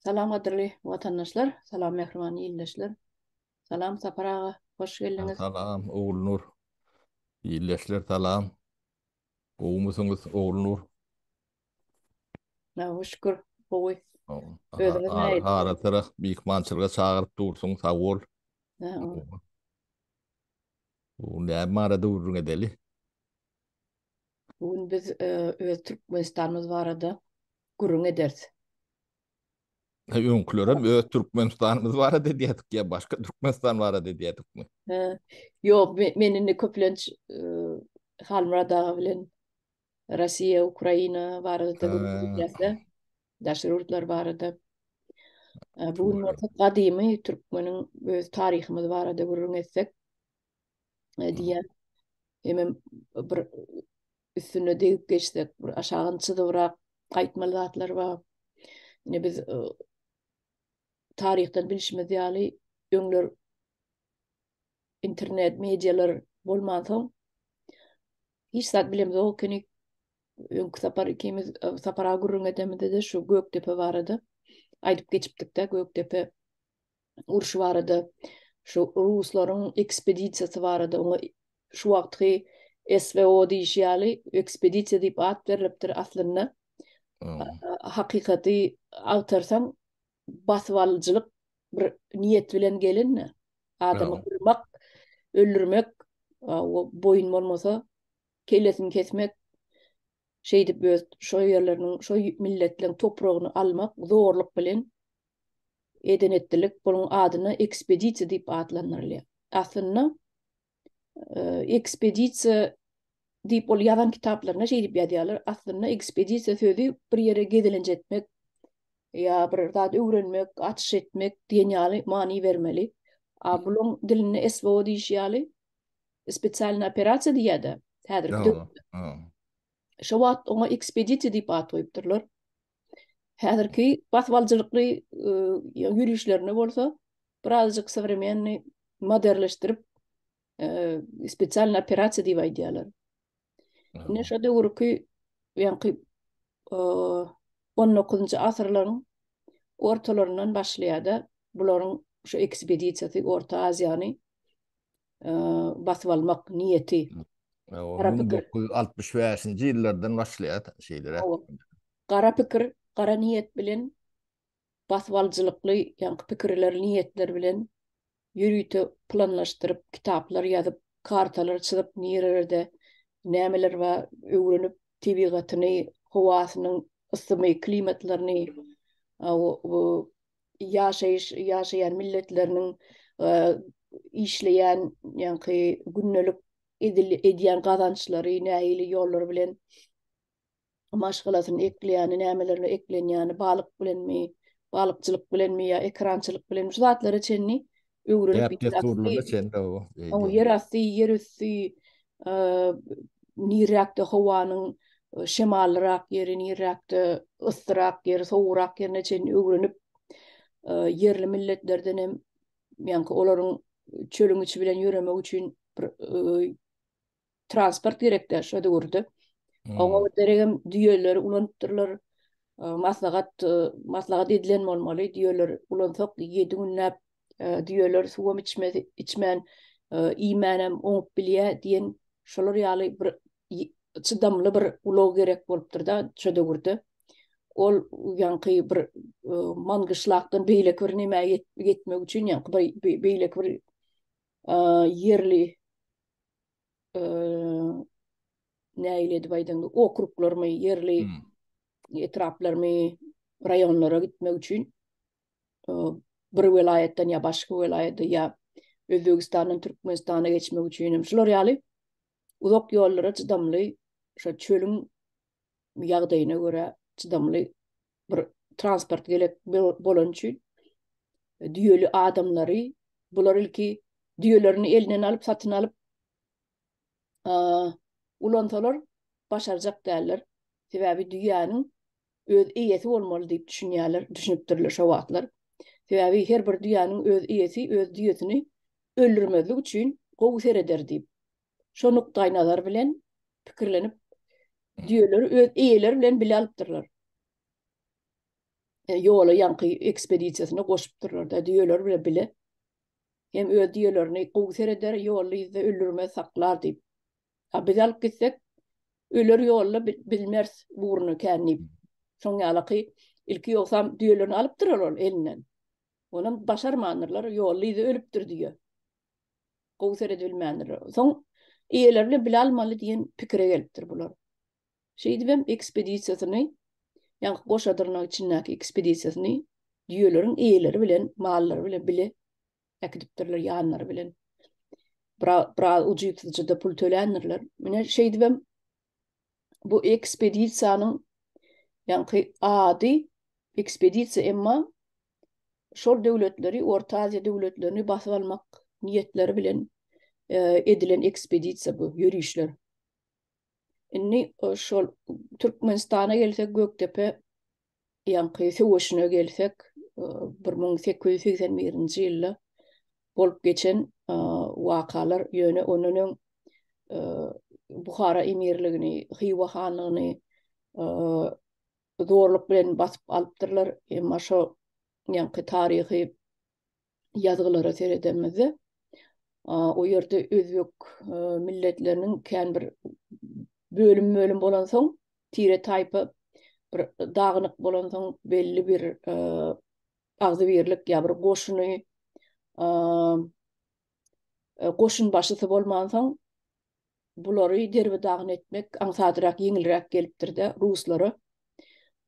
Salam gadyrly watandaşlar, salam mähriban ildeşler. Salam Sapar aga, hoş geldiňiz. Salam Ogulnur. Ildeşler salam. Gowumysyňyz Ogulnur? Na şükür, gowy. Özüňiz näýe? Ara tarap myhmançylyga çagyryp dursuň, sag bol. Sag bol. Bu näme arada gürrüň edeli? Bu gün biz öz Türkmenistanymyz barada gürrüň ederis. Öňkülerem öz Türkmenistanymyz barada edýärdik ýa başga Türkmenistan barada edýärdikmi? Ýok, men indi köplenç Halmyrat aga bilen Russiýa, Ukraina barada gürrüň edýäs-de, daşary ýurtlar barada. Bu gün gadymy türkmeniň öz taryhymyz barada gürrüň etsek, diýýär. Hemem bir üstüne degip geçsek, bir aşagyny çyzybrak gaýtmaly zatlar bar. Ine biz e, taryhdan bilşimiz ýaly öňler internet medialar bolman soň hiç zat bilemez o kini öňki sapar ikimiz e, sapara gürrüň edemizde de şu Gökdepe barada aýdyp geçipdik de Gökdepe urşy barada, şu ruslaryň ekspedisiýasy barada, oňa şu wagtky SVO diýişi ýaly ekspedisiýa diýip at berlipdir aslynda. Hakykaty agtarsaň, basybalyjylyk bir niýet bilen gelin-de, adamy gyrmak, öldürmek, boýun bolmasa, kellesini kesmek, şeýdip öz şo ýerleriniň, şo milletleriň topragyny almak, zorluk bilen eden etdilik bunuň adyna ekspedisiýa diýip atlandyrylýar. Aslynda ekspedisiýa diýip ol ýazan kitaplarynda şeýdip ýazýarlar. Aslynda ekspedisiýa sözi bir ýere gezelenç etmek ýa bir zat öwrenmek, açyş etmek diýen ýaly many bermeli. A buluň dilinde SVO diýişi ýaly spesialny operasiýa diýýärdi häzirki döwürde. Şo wagt oňa ekspedisiýa diýip at goýupdyrlar. Häzirki basyp alyjylykly ýörişlerine bolsa birazjyk sowremenni moderleşdirip spesialny operasiýa diýip aýdýarlar. Ine şo döwürki ýaňky 19-njy asyrlaryň ortalaryndan başlaýar-da bularyň şu ekspedisiýasy Orta Aziýany basyp almak niýeti. Gara pikir. 1965-nji ýyllardan başlaýar şeýle. Gara pikir, gara niýet bilen basyp alyjylykly ýaňky pikirler, niýetler bilen ýörite planlaşdyryp, kitaplar ýazyp, kartalar çyzyp, nirelerde nämeler bar öwrenip, tebigatyny, howasynyň ysymy, klimatlaryny, ýaşaýyş ýaşaýan milletleriniň işleýän ýaňky gündelik edýän gazançlary nähili ýollar bilen maşgalasyny ekleýäni, nämelerle eklenýäni, balyk bilenmi, balykçylyk bilenmi ýa ekrançylyk bilenmi şu zatlara çenli öwrülip däp-dessurlyna çenli gowy eýýäm. Ýer asty, ýer üsti, nirräkde howanyň şemallyrak ýeri, nirräkde yssyrak ýeri, sowugrak ýerine çenli öwrenip, ýerli milletlerden hem ýaňky olaryň çölüň içi bilen ýöremegi üçin bir transport gerekdi şo döwürde. Oňa hmm. deregem düýeleri ulanypdyrlar. Maslahat maslahat edilen bolmaly, düýeler ulansak 7 günläp düýeler suwam içmedi, içmän iýmänem oňup bilýä diýen şolar ýaly bir çydamly bir ulag gerek bolupdyr-da şo döwürde. Ol ýaňky bir mangyşlakdan beýleki bir nämä ýetmek üçin ýaňky beýleki bir ýerli nähili edip aýdaňda okruglarymy ýerli etraplarymy raýonlara gitmek üçin bir welaýatdan ýa başga welaýata ýa Özbegistandan Türkmenistana geçmek üçin hem şular ýaly uzak ýollara çydamly şo çölüň ýagdaýyna görä çydamly bir transport gerek bolan üçin e, düýeli adamlary bular ilki düýelerini elinden alyp satyn alyp ulansalar başarjak däller. Sebäbi düýäniň öz eýesi bolmaly diýip düşünýärler, düşünipdirler şo wagtlar. Sebäbi her bir düýäniň öz eýesi öz düýesini öldürmezlik üçin gowy sereder diýip. şo nukdaýnazar bilen pikirlenip, düýeleri öz eýeleri bilen bile alypdyrlar. E, ýola ýaňky ekspedisiýasyna goşupdyrlar-da, düýeleri bilen bile. Hem öz düýelerini gowy sereder, ýolda ýüzde öldürmez, saklar diýip. A biz alyp gitsek, öler ýolda bilmers ugruna kän diýip. Şoň ýalaky ilki ýogsam düýelerini alypdyrlar ol elinden. Onam başarmandyrlar, ýolda ýüzde ölüpdir düýe. gowy seredilmändirler. Soň eýeleri bilen bile almaly diýen pikire gelipdir bular. Şeýdip hem ekspedisiýasyny, ýa-da goşa dyrnak içindäki ekspedisiýasyny düýeleriň eýeleri bilen, mallary bilen bile äkidipdirler ýanlary bilen. Biraz ujypsyzja-da pul töländirler. Mine şeýdip hem bu ekspedisiýanyň ýa-da ady ekspedisiýa emma şol döwletleri, Orta Aziýa döwletlerini basyp almak niýetleri bilen edilen ekspedisiýa bu, ýörişler. Indi şol Türkmenistana gelsek, Gökdepe ýaňky söweşine gelsek, bir müň sekiz ýüz segsen birinji ýylda bolup geçen wakalar, ýöne ondan öň Buhara emirligini, Hywa hanlygyny zorluk bilen basyp alypdyrlar. Emma şo ýaňky taryhy ýazgylara seredemizde, o ýerde özbek e, milletleriniň kän bir bölüm-bölüm bolansoň, tire-taýpa bir dagynyk bolansoň belli bir e, agzybirlik ýa bir goşuny e, goşun başysy bolmansoň Bulary derbi-dagyn etmek aňsadrak, ýeňilräk gelipdir-de ruslara.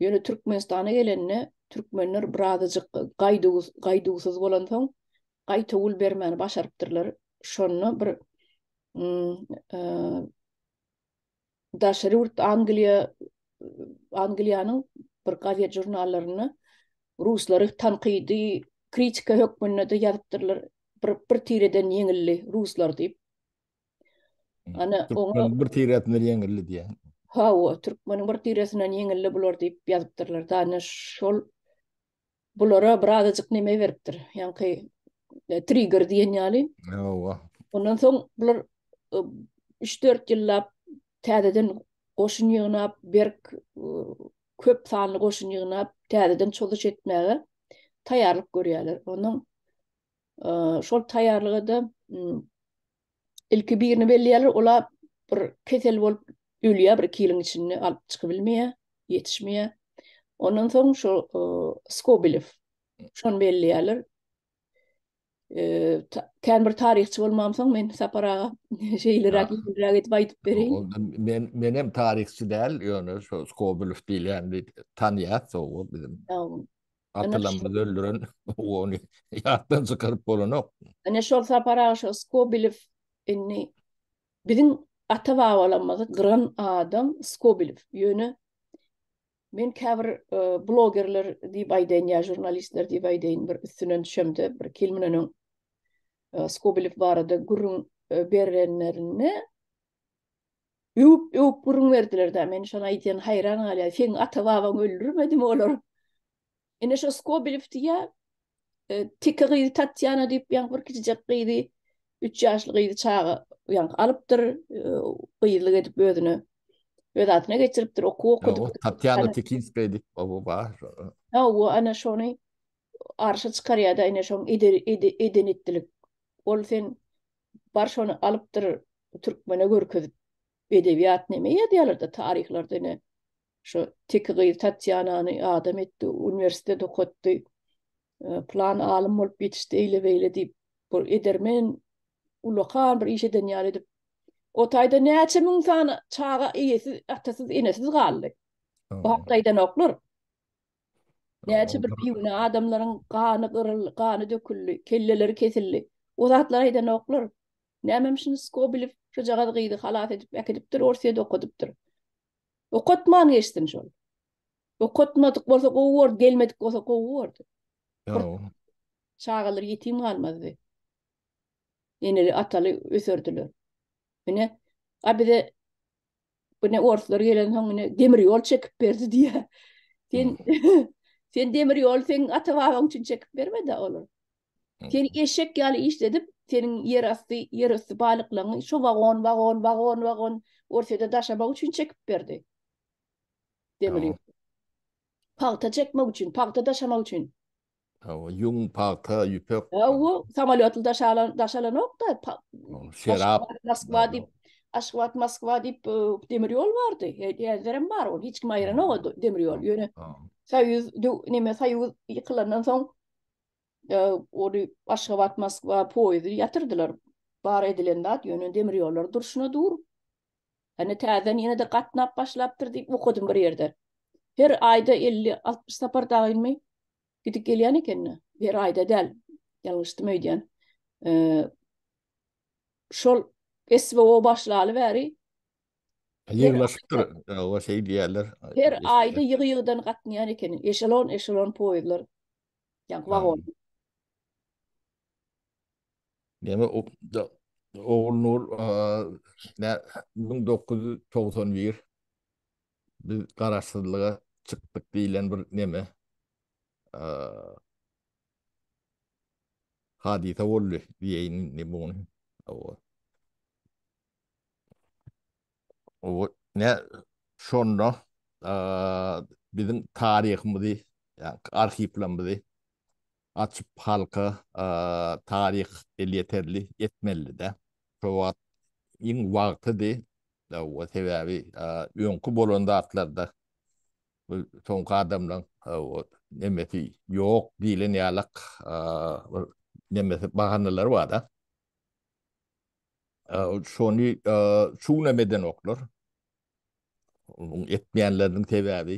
Ýöne Türkmenistana gelende, türkmenler birazajyk gaýduwsyz bolansoň, gaýtawul bermäni başarypdyrlar. Şonda bir daşary ýurt Angliýa, Angliýanyň bir gazet-žurnallarynda ruslary tankydy, kritika hökmünde-de ýazypdyrlar, bir tireden ýeňildi ruslar diýip. Ana oňa bir tiresinden ýeňildi diýen. Hawa, türkmeniň bir tiresinden ýeňildi bular diýip ýazypdyrlar. Dana şol bulara bir azajyk neme beripdir. Ýaňky e, trigger diýen ýaly. Hawa. Ondan soň bular 3-4 e, ýyllap täzeden goşun ýygnap, berk e, köp sanly goşun ýygnap, täzeden çozuş etmäge taýýarlyk görýärler. Onuň Şol taýýarlyga-da ilki birini belleýärler, ola bir kesel bolup ölýär, bir iki ýylyň içinde alyp çykybilmeýär, ýetişmeýär. Ondan soň şu Skobilew, şony belleýärler. Kän bir taryhçy bolmamsoň, men Sapar aga şeýleräk, ýeňilräk edip aýdyp bereýin. Men, menem taryhçy däl, ýöne şu Skobilew diýilýän tanýas, o biziň. Atylanymyzy öldüren ony ýatdan çykaryp bolanok. Ine şol Sapar aga Skobelew indi biziň ata-babalarymyzy gyran adam Skobelew. Ýöne men käbir e, blogerler diýip aýdaýyn ýa žurnalistler diýip aýdaýyn bir üstünden düşemde bir iki ýyl mundan öň e, Skobelew barada gürrüň e, berenlerinde Öwüp, öwüp gürrüň berdiler-dä, men şoňa aýdýan haýran galýan, seň ata-babaň öldürmedimi olar? Ine şo Skobelew diýýär, teke gyzy Tatýana diýip, ýaňky bir kiçijek gyzy, üç ýaşly gyzy çaga ýaňky alypdyr, gyzlyk edip özüne, öz adyna geçiripdir, okuw okudypdyr. Tatýana Tekinskaýa diýip, o-o bar. Hawa, ana şony arşa çykarýar-da, ine şoň eden-etdilik. Ol sen bar şony alypdyr türkmene görkezip edebiýat neme ýazýalarda taryhlarda ine şu teki gyz tatýanany adam etdi uniwersitet okatdy plan alym bolup ýetişdi eýle beýle diýip bu edermen ulakan bir iş eden ýaly edip o taýda näçe müň sany çaga eýesiz atasyz enesiz galdy bu hakda edenoklar Näçe bir bigünä adamlaryň gany gyryldy, gany döküldi, kelleleri kesildi. O zatlary aýdanoklar. Nämem şuny Skobilew şojagaz gyzy halas edip äkidipdir, Orsýede okadypdyr. Okatman geçsin şol. Okatmadyk bolsa gowy bordy, gelmedik bolsa gowy bordy. Çagalar ýetim galmazdy. Eneli, ataly öserdiler. Ine, a bize Bu ne orslar gelen soň ine demir ýol çekip berdi diýä. Sen sen demir ýol sen ata babaň üçin çekip bermedi olar. Sen eşek ýaly işledip, seniň ýer asty, ýer üsti balyklaryňy şu wagon, wagon, wagon, wagon Orsýede daşamak üçin çekip berdi. Demir ýol. Pagta çekmek üçin, pagta daşamak üçin. Hawa, ýüň, pagta, ýüpek. Hawa, samolýotly daşalan, daşalanokda. Şerap. Moskwa diýip, Aşgabat, Moskwa diýip e, demir ýol bardy. Häzirem bar ol. Hiç kim aýranok o demir ýol. Ýöne Soýuz näme Soýuz ýykylandan soň e, ony Aşgabat, Moskwa poýuzy ýatyrdylar. Bar edilen zat ýöne demir ýollar durşuna dur. Hany täzeden ýene-de gatnap başlapdyr diýip okadym bir ýerde. Her aýda elli, altmyş sapar dagynymy gidip gelýän eken-de. Her aýda däl. Ýalňyşdym öýdýän. Şol SWO başlaly bäri Ýygnaşypdyr. Hawa, şeý diýýärler. Her aýda ýygy-ýygydan gatnaýan ekeniň. Eşelon-eşelon poýuzlar. Ýa wagon. Neme opda Ogulnur ne müň dokuz ýüz togsan bir biz garaşsyzlyga çykdyk diýlen bir neme hadysa boldy diýeýin indi muny. Owa. Owa ne şonda biziň taryhymyzy, ýa arhiwlerimizi Açyp halka taryh elýeterli etmelide. Şo wagt iň wagtydy. Hawa sebäbi öňki bolan zatlarda soňky adamlaň hawa nemesi ýok diýlen ýalak bir nemesi bahanalary barda. Şony çuňam edenoklar. Etmeýänleriniň sebäbi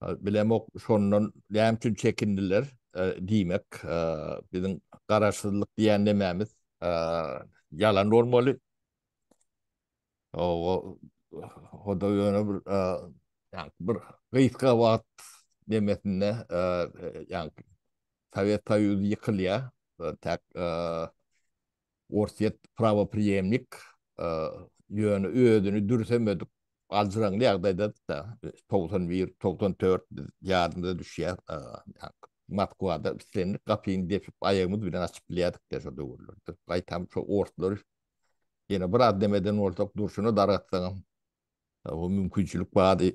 Bilemok şondan näme üçin çekindiler diýmek. Biziň garaşsyzlyk diýen nemämiz ýalan bolmaly. O-da ýöne bir ýa-ni bir gysga wagt nemesinde ýa-ni Sowet Soýuzy ýykylýar. Täk Orsýet prawopriýemnik, ýöne özüni dürsemedik aljyraňly ýagdaýda-da, togsan bir, togsan dört ýadymyza düşýär, Moskwada islendik gapyny depip, aýagymyz bilen açyp bilýärdik-de şol döwürlerde. Gaýtam şo orslary ýene biraz dem eden bolsak, durşuna dargatsaňam, o mümkinçilik bardy.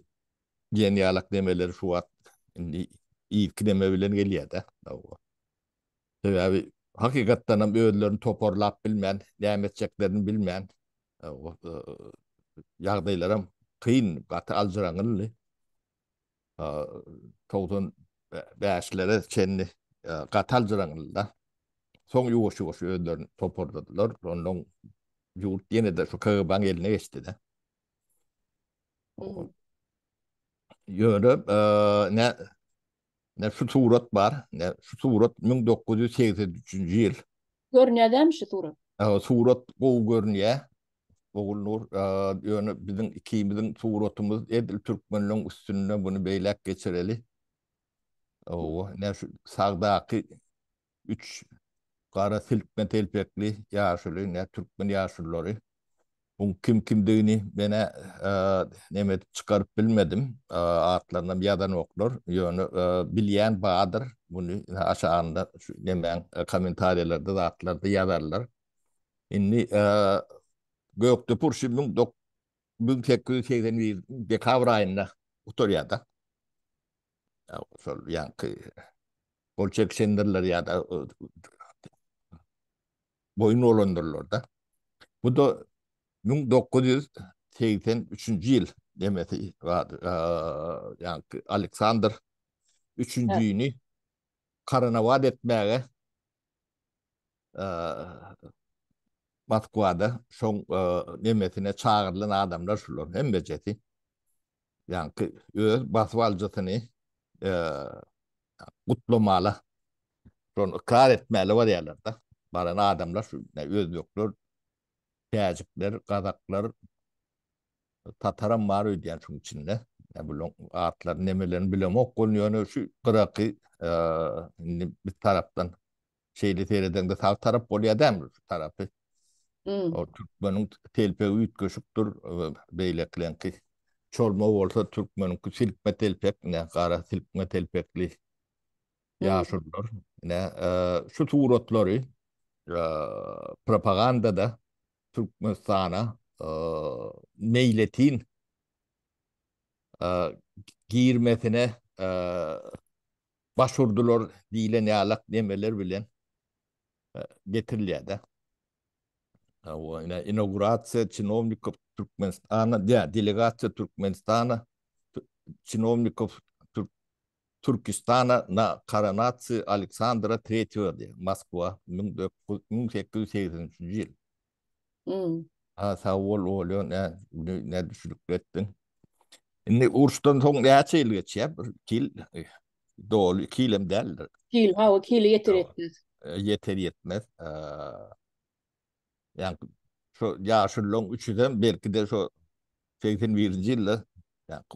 Diýen ýalak demeler şu wagt indi irki deme bilen gelýär-de. Sebäbi hakykatdanam özlerini toparlap bilmän, näme etjeklerini bilmän ýagdaýlaram kyn, gaty aljyraňňyldy. Togsan bäşlere çenli gaty aljyraňňyldy-da. Soň ýuwaş-ýuwaş özlerini toparladylar. Onnoň ýurt ýene-de şu KGB-niň eline geçdi-de. Ýöne Ne şu surat bar, ne şu surat müň dokuz ýüz segsen üçünji ýyl. Görünýädämi şu surat? Hawa, surat gowy görünýä. Ogulnur, ýöne biziň ikimiziň suratymyz edil türkmenleň üstünde, muny beýläk geçireli. Hawa, ne şu sagdaky Üç gara silkme telpekli ýaşuly, ne türkmen ýaşulylary. Buň kim kimdigini men-ä neme edip çykaryp bilmedim. Atlarynam ýazanoklar. Ýöne bilýän bardyr. Muny aşagynda şu nemäň kommentariýalarda zatlarda ýazarlar. Indi Gökdepe urşy müň sekiz ýüz segsen bir dekabr aýynda gutarýar-da. şol ýaňky gol çekişendirler ýa-da boýun olandyrlar-da. Bu da 1983-nji ýyl nemesi bar, ýaňky Aleksandr üçünjini karanawat etmäge Moskwada şoň nemesine çagyrylan adamlar şular hemmejesi. Ýaňky öz basyp alyjysyny gutlamala, şony ykrar etmäle barýarlar-da. Baran adamlar şu özbekler, täjikler, gazaklar, Tataram bar öýdýän şuň içinde. Ýa bu atlaryny nemelerini bilemok bolun ýöne şu gyraky indi bir tarapdan şeýle seredeňde sag tarap bolýar dämi şu tarapy. O türkmeniň telpegi üýtgeşikdir beýlekileňki. Çorma bolsa türkmeniňki silkme telpek, ine gara silkme telpekli ýaşulular. Ine şu suratlary propagandada Türkmenistana meýletin girmesine baş urdular diýlen ýalak nemeler bilen getirilýär-de. Inaugurasiýa çinownikov Türkmenistana, delegasiýa Türkmenistana, çinownikov Türkistana na koronasiýa Aleksandra III berdi. Moskwa, müň dokuz müň sekiz ýüz segsen üçünji ýyl. Ýy. Ha, sag bol, Olýa, nä, güni nä düşülikli etdiň. Indi uruşdan soň näçe ýyl geçýär? Bir iki ýyl, doly iki ýyl hem däldir. Iki ýyl, hawa, iki ýyla ýeter-ýetmez. Ýeter-ýetmez. Ýa-da şo ýaşullaň üçüsem belki-de şo segsen birinji ýylda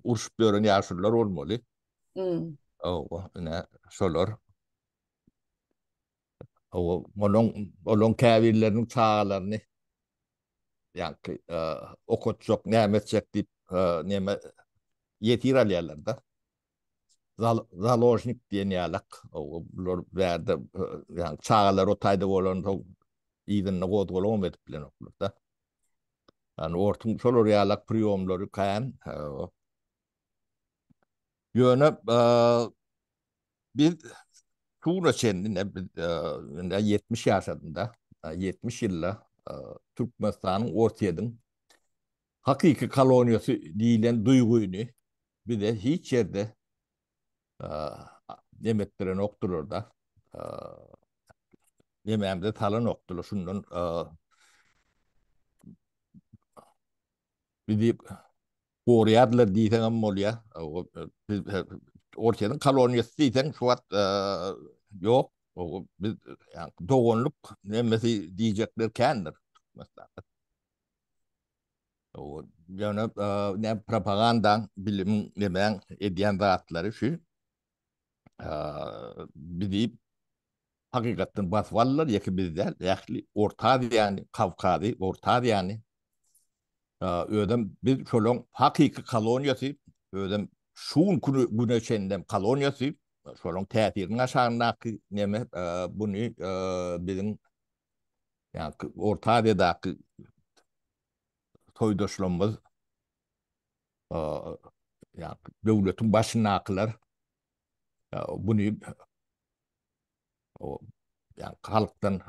urşup ýören ýaşullar bolmaly. Owa, ine şolar. Owa, onuň, olaň käbirleriniň çagalaryny ýa-da okatjak, näme etjek diýip, näme ýetir alýarlar-da. založnik diýen ýalak, bular bärde, ýagny çagalar o taýda bolanda yzynda gozgalagam edip bilenoklar da. Ýagny ortuň şolar ýalak priýomlary kän. Ýöne biz şuna çenli ine biz indi ýetmiş ýaşadym-da, ýetmiş ýylda Türkmenistanyň, Orsýetiň Hakyky koloniýasy diýlen duýgyny bize hiç ýerde nem etdirenokdylar-da, nemämize salanokdylar. Şundan bizi goraýardylar diýseňem bolýar. Orsýetiň koloniýasy diýseň şu wagt ýok. Biz doganlyk nemesi diýjekler kändir Türkmenistanda. Ýöne näme propagandaň, bilimiň, nemäň edýän zatlary şu. Bizi hakykatdan basyp aldylar, ýeke biz däl, ähli Orta Aziýany, Kawkazy, Orta Aziýany. Özem biz şolaryň hakyky koloniýasy, özem şu günki güne çenli hem koloniýasy, şolaryň täsiriniň aşagyndaky neme, buny biziň ýa-da Orta Aziýadaky toýdaşlarymyz ýa döwletiň başyndakylar buny o ýa halkdan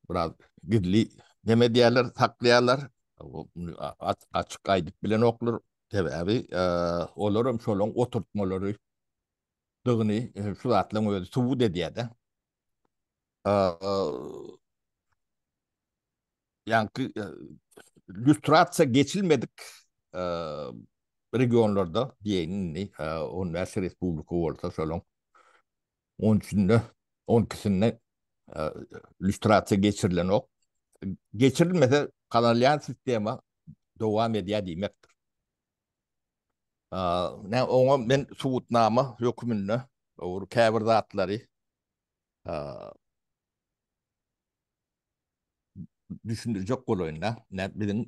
biraz gizli neme diýerler, saklaýarlar. Açyk aýdyp bilenoklar. Sebäbi olar hem şolaryň oturtmalary dygyny şu zatlaryň özi subut edýär-de. ýaňky lýustrasiýa geçilmedik regionlarda diýeýin indi, on bäş respublika bolsa şolaryň on üçünde, on ikisinde lýustrasiýa geçirilenok. Geçirilmese gazanylýan sistema dowam edýär diýmekdir. Nä oňa men subutnama hökmünde owur käbir zatlary düşündirjek bolaýyn da. Nä biziň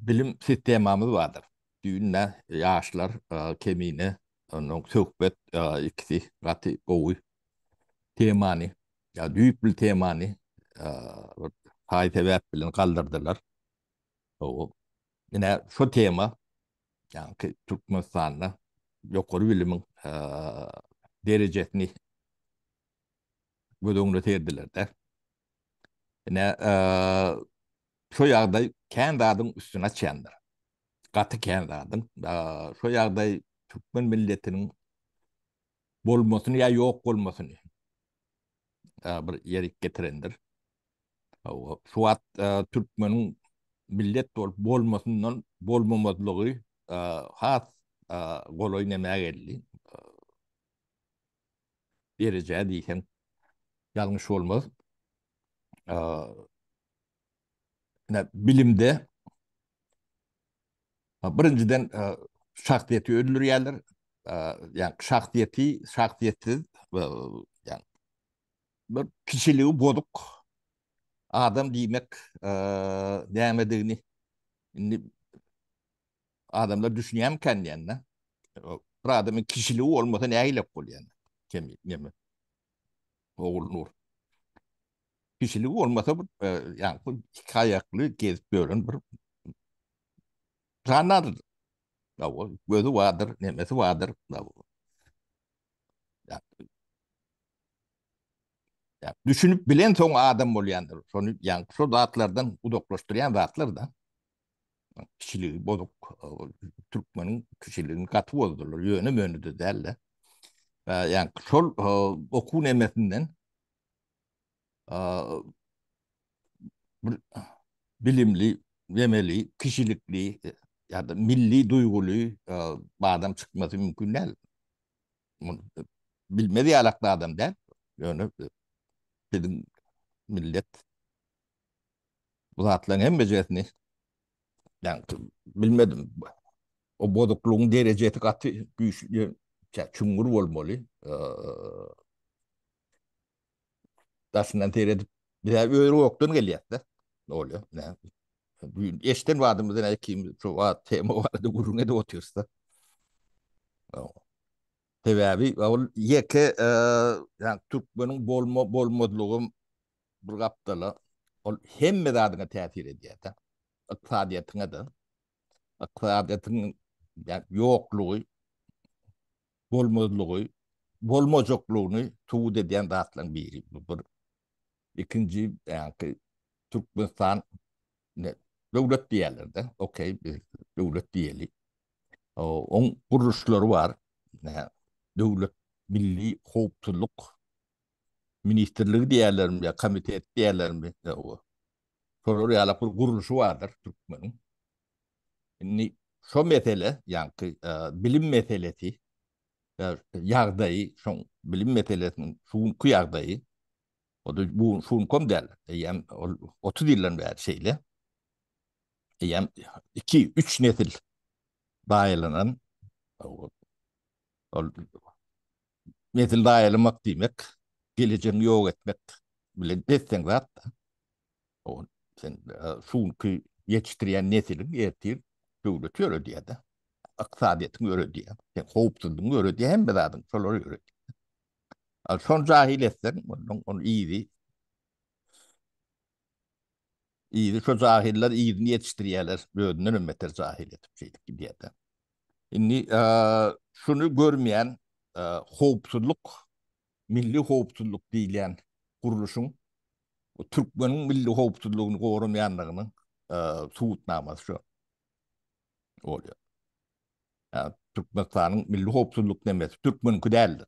bilim sistemamyz bardyr. Düýn nä ýaşlar Kemine ondan söhbet ikisi gaty gowy temany, düýpli temany haý sebäp bilen galdyrdylar. Hawa. Ine, şu tema, ýagny Türkmenistanda ýokary bilimiň derejesini göz öňüne serdilerde, ine, şu ýagdaý kän zadyň üstüni açýandyr. Gaty kän zadyň. Şu ýagdaý türkmen milletiniň bolmasyny ýa ýok bolmasyny bir ýerik getirendir. Şu wagt türkmeniň millet bolup bolmasyndan bolmamazlygy has golaý nämä geldi? Derejä diýseň ýalňyş bolmaz. Ine, bilimde birinjiden şahsyýeti öldürýärler. Ýa şahsyýeti, şahsyýetsiz, ýa Bir kişiligi bozuk adam diýmek nämedigini indi adamlar düşünýärmikan diýende, bir adamyň kişiligi bolmasa nägilek bolýar? Kemi, neme? Ogul Nur. Kişiligi bolmasa, ýa bu iki aýakly gezip ýören bir jandardyr. Gözü bardyr, nemesi bardyr. Düşünip bilen soň adam bolýandyr. Şony ýaňky şo zatlardan uzaklaşdyrýan zatlar-da. Kişiligi bozuk, türkmeniň kişiligini gaty bozdular. Ýöne-mönede däl-de. Ýaňky şol okuw nemesinden bir bilimli, memeli, kişilikli ýa-da milli duýguly adam çykmasy mümkin däl. Bilmez ýalakly adam däl. Ýöne biziň millet bu zatlaryň hemmejesini bilmedim. O bozuklygyň derejesi gaty güýçli, çüňňür bolmaly. Daşyndan seredip, biz öz gokdan gelýäs-de. Ne bolýar? Nä? Düýn eşden badymyzy näme kim şu wagt tema barada gürrüň edip otyrys-da. Sebäbi ol ýeke ýa türkmeniň bolma bolmazlygy bir gapdala ol hemme zadyňa täsir edýär-de. Ykdysadyýetiňe-de. Ykdysadyýetiň ýoklugy bolmazlygy, bolmajaklygyny subut edýän zatlaryň biri. Bu bir. Ikinji, ýagny Türkmenistan döwlet diýerler-de, okey, döwlet diýeli. Oň gurluşlary bar. Döwlet milli howpsuzlyk ministrligi diýerlermi ýa komitet diýerlermi, şolar ýalak bir gurluşy bardyr türkmeniň. Indi şo mesele, ýaňky bilim meselesi, ýagdaýy, şoň bilim meselesiniň şu günki ýagdaýy, o-da bu gün, şu günküem däl, eýýäm ol otuz ýyldan bäri şeýle, eýýäm iki, üç nesil baýlanan, ol Nesil zaýalamak diýmek, gelejegiňi ýok etmek bilen deň zat-da. Ol sen şu günki ýetişdirýän nesiliň ertir döwleti ýöredýär-de. Ykdysadyýetiňi ýöredýär, sen howpsuzlygyňy ýöredýär, hemme zadyňy şolar ýöredýär. Şony jahyl etseň, ondan ony ýygy. Yzy şo jahyllar yzyny ýetişdirýärler özündenem beter jahyl edip şeýdip gidýärler. Indi şuny görmeýän howpsuzlyk milli howpsuzlyk diýilýän gurluşyň türkmeniň milli howpsuzlygyny goramaýandygynyň subutnamasy şo bolýar. Türkmenistanyň milli howpsuzlyk nemesi türkmeniňki däldir.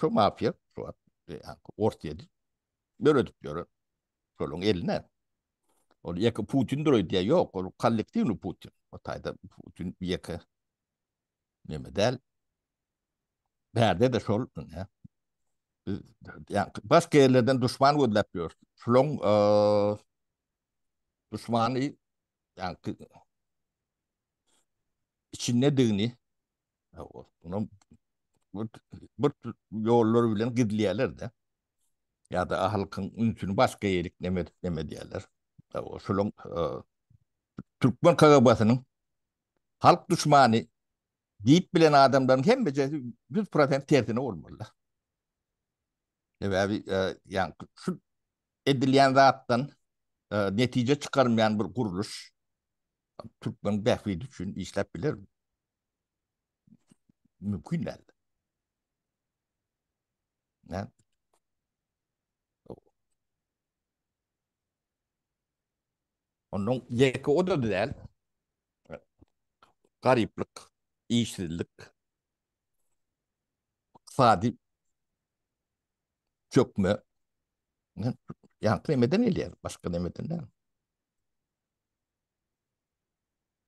Şu mafiýa şu wagt Orsýedi döredip ýören. Şolaryň eline. Ol ýeke Putin duruyor diye yok. Ol kollektivni Putin. O tayda Putin ýeke neme däl. Bärde de şol. Ne? Yani başka yerlerden düşman gözläp ýör. Şularyň e, düşmany yani içindedigini bir ýollar bilen gizleýärler-de. Ýa-da halkyň ünsüni başga ýere iklemedýärler. Şolaryň türkmen KGB-siniň halk duşmany diýip bilen adamlaryň hemmejesi ýüz prosent tersine bolmaly-da. Sebäbi ýaňky şu edilýän zatdan netije çykarmaýan bir gurluş türkmeniň bähbidi üçin işläp bilermi? mümkin däl. Näme? Ondan ýeke o da däl. Garyplyk, işsizlik, ykdysady çökme. Ýaňky nemeden gelýär, başga nemeden däl.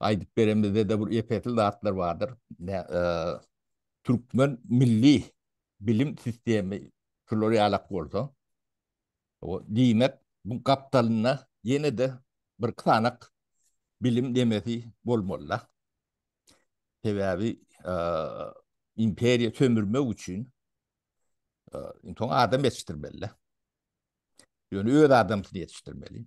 Aýdyp beren bizede bir ýeketil zatlar bardyr. Türkmen milli bilim sistemi şular ýalak bolsa, diýmek, bu gapdalynda ýene-de bir ksanak bilim nemesi bolmaly-da. Sebäbi imperiýa sömürmek üçin inson adam ýetişdirmeli-de. Ýöne öz adamsyny ýetişdirmeli.